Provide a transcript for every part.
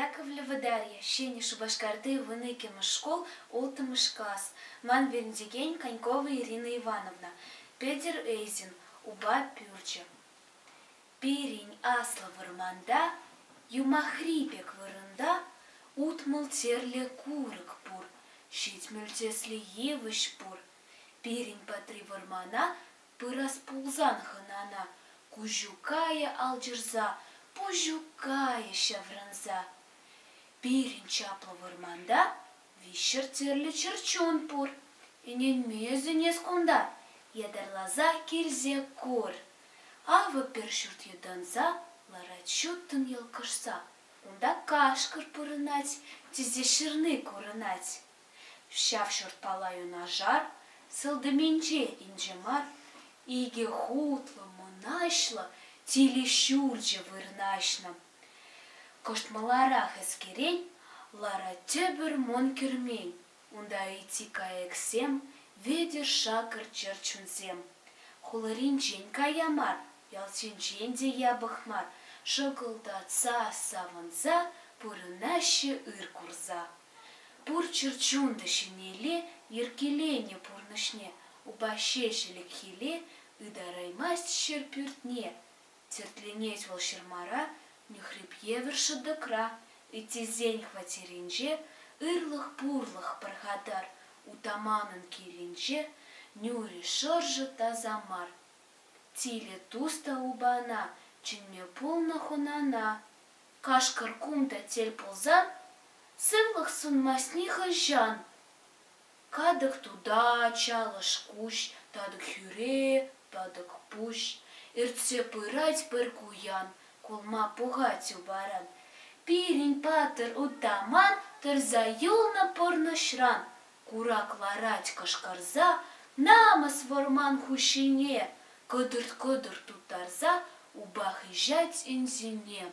Яковлево Дарья, Ҫӗнӗ Шупашкарти вун иккӗмӗш шкул, улттӑмӗш класс, ман вӗрентекен Конькова Ирина Ивановна, Петӗр Эйзин, упа пӳрчӗ. Пирӗн аслӑ вӑрманта, юмахри пек вырӑнта, утмӑл терлӗ курӑк пур, ҫитмӗл тӗслӗ йывӑҫ пур, Пирӗн патри вӑрмана пырас пулсан хӑнана Куҫуккайӗ алчӑрса, Пуҫуккайӗ ҫаврӑнса. Пирӗн чаплӑ вӑрманта виҫҫӗр тӗрлӗ чӗрчун пур. Ӗненмесен-эс кунта ятарласа килсе кур. Авӑ пӗр ҫурт йӑтӑнса ларать ҫуттӑн йӑлкӑшса. Унта кашкӑр пурӑнать, тесе ҫырни курӑнать. Ҫав ҫуртпа юнашар сылтӑмӗнче инҫе мар икӗ хутлӑ мӑнаҫлӑ тилӗ ҫурчӗ вырнаҫнӑ. Кӑшт маларах ӗскерен лара тепӗр мӑн кӗрмен, унта ытти кайӑксем, вӗтӗр-шакӑр чӗрчунсем. Хуларинчен кая мар, ялсенчен те япӑх мар шӑкӑлтатса, савӑнса пурӑнаҫҫӗ ыр курса. Пур чӗрчунлӑ ҫӗнелле йӗркеленӗ пурнӑҫне упа ҫеҫ ӗлӗкхилле ытараймасть ҫӗр пӳртне. Тертленет вӑл ҫырмара нӳхреп евӗр шӑтӑкра, ыттисен хваттерӗнче, ырлӑх-пурлӑх пӑрхатар утаманӑн килӗнче, нӳрӗ, шӑршӑ таса мар. Тилӗ тус та упана чӗнме пулнӑ хунана Кашкӑр кунта тӗл пулсан, сывлӑх сунмасть нихӑҫан. Катӑк тута, чалӑш куҫ, татӑк хӳре, тӑтӑк пуҫ. Иртсе пырать пӗр куян, кулма пухать упаран. Пирӗн патӑр утаман тӑрса юлнӑ пурнӑҫран. Курак ларать кӑшкӑрса, намӑс вӑрман хуҫине, кӑтӑрт-кӑтӑрт тутарса, упа хыҫать ӗнсине.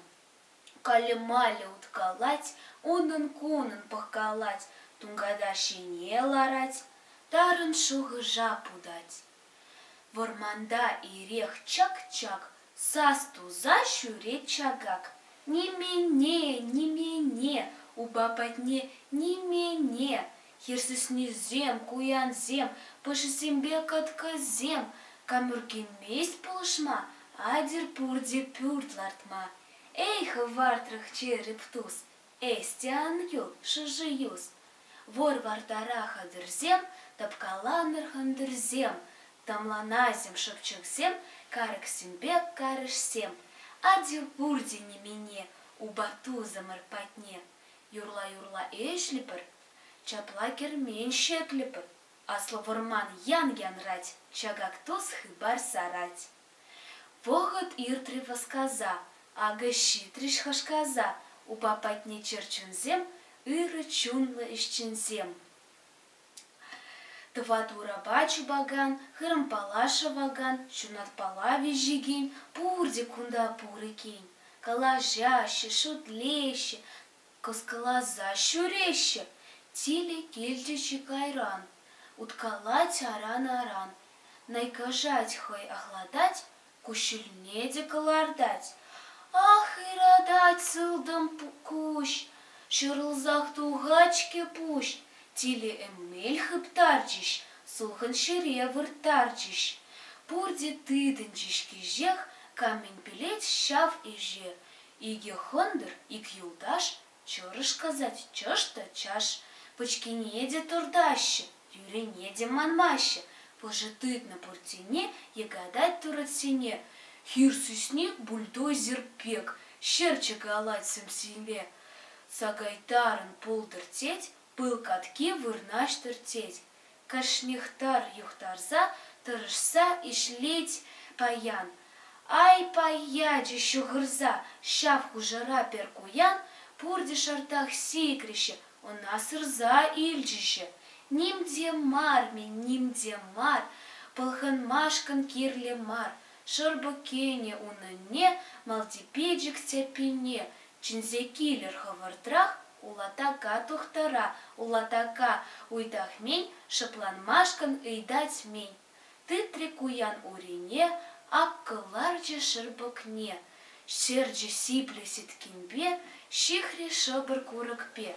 Калӗ-малӗ уткалать, унӑн-кунӑн пӑхкалать, тунката ҫине ларать, тарӑн шухӑша путать. Вӑрманта ирех чак-чак сас туса ҫӳрет чакак. Нимене, нимене, упа патне нимене, хирсӗснисем, куянсем, пӑшисемпе кӑткӑсем, камӑркенмест пулӑшма, атьӑр пурте пӳрт лартма. Эй, хӑвартрӑх череп тус, Эсте ан юл, шӑши-юс! Вор-вартара хӑтӑрсем, тӑпкаланӑр хӑнтӑрсем, тӑмланасем шӑпчӑксем, карӑксемпе карӑшсем, атил-пуртил немене упа тусӑмӑр патне юрла-юрла ӗҫлӗпӗр. Ҫапла кермен ҫӗклӗпӗр, аслӑ вӑрман ян янрать, ҫакак тус хыпар сарать. Вӑхӑт иртрӗ васкаса, акӑ ҫитрӗҫ хашкаса упа патне чӗрчунсем, ырӑ чунлӑ ӗҫченсем. Тӑват урапа чупакан, хырӑмпала шӑвакан, ҫунатпала виҫекен, пурте кунта пур иккен. Калаҫаҫҫӗ, шутлеҫҫӗ, Кӑскӑласа ҫӳреҫҫӗ, тилӗ килчӗ-ши кайран, уткалать аран-аран, найкашать хӑй ахлатать, куҫҫульне те кӑлартать. Ах, ыратать сылтӑм куҫ, ҫӑрӑлсах тухать-ҫке пуҫ, тилӗ эмел хыптарчӗҫ, сулхӑн ҫӗре вырттарчӗҫ. Пурте тытӑнчӗҫ кӗҫех, камӗн пӗлет ҫав ӗҫе, Икӗ хӑнтӑр, ик юлташ, чӑрӑш касать чӑш та чаш, пӑчкине те туртаҫҫӗ, тӳрене те манмаҫҫӗ, пӑшӑ тытнӑ пуртсене йӑкатать турӑтсене, хир сӳсник бульдозер пек ҫӗр чӑкалать сӗмсилле. Сакайтарӑн пултӑр тет, пыл катки вырнаҫтӑр тет, Кашнихтар юхтарса тӑрӑшса ӗҫлет паян. Ай-пай ячӗ ҫӑхӑрса ҫав хушӑра пӗр куян, пурте шартах сикрӗҫ, ӑна сырса илчӗҫ. Ним те мар-мӗн, ним те мар, пӑлханмашкӑн кирлӗ мар шӑрпӑк кӗнӗ унӑнне, малти пичӗк тяппине чӗнсе килӗр хӑвӑртрах. Улатака тухтӑра улатака уйтахмин шӑпланмашкӑн ыйтать-мӗн, тытрӗ куян урине, аккӑ ларчӗ шӑрпӑкне, сӗрчӗ сиплӗ сӗткенпе, ҫыхрӗ шӑпӑр курӑкпе.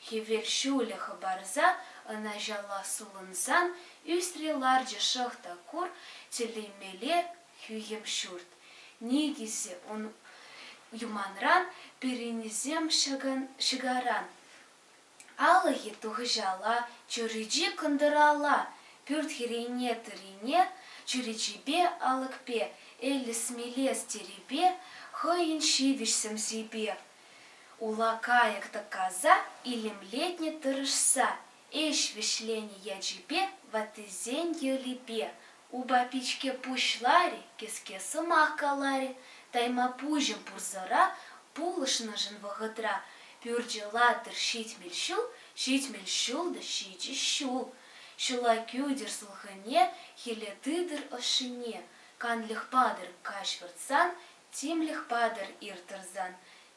Хӗвел ҫулӗ хӑпарса ӑна ҫалла сулӑнсан ӳсрӗ ларчӗ шӑхта кур, тӗллемелле хӳхӗм ҫурт. Никӗсӗ ун юманран, пирӗннисем ҫӑкаран. Алӑкӗ тухӑҫалла, чӳречи кӑнтӑралла, пӳрт хӗррине-тӑрине, чӳречипе алӑкпе, эллес-мелес тирӗпе, хӑйӗн ҫивӗч сӗмсипе, ула кайӑк тӑккаса илемлетнӗ тӑрӑшса, ӗҫ вӗҫленӗ ячӗпе, ваттисен йӑлипе, Упа пичке пуҫларӗ, кӗске сӑмах каларӗ, тайма пуҫӑм пурсӑра пулӑшнӑшӑн вӑхӑтра пӳрчӗ латӑр ҫитмӗл ҫул, ҫитмӗл ҫул та ҫичӗ ҫул, ҫула кӳтӗр сулхӑне, хӗле тытӑр ӑшшине, канлӗх патӑр каҫ выртсан, тимлӗх патӑр ир тӑрсан,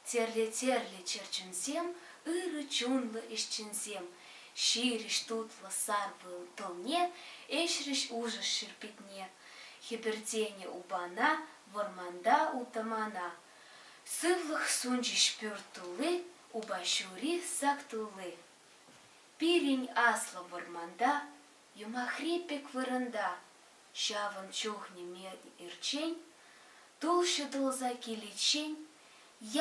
Тӗрле-тӗрлӗ чӗрчунсем, ырӑ чунлӑ ӗҫченсем, ҫирӗҫ тутлӑ сар пыл тӑлне ӗҫрӗҫ Улшӑш ширпитне, хӗпӗртенӗ упана, вӑрманта утамана. Сывлӑх сунчӗҫ пӳрт тулли, упа ҫури сак тулли. Пирӗн аслӑ вӑрманта Юмахри пек вырӑнта ҫавӑн чухне мел ирччен, тул ҫутӑлса киличчен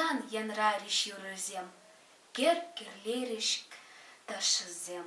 ян янрарӗҫ юрӑсем, кӗр кӗрлерӗҫ ташшисем.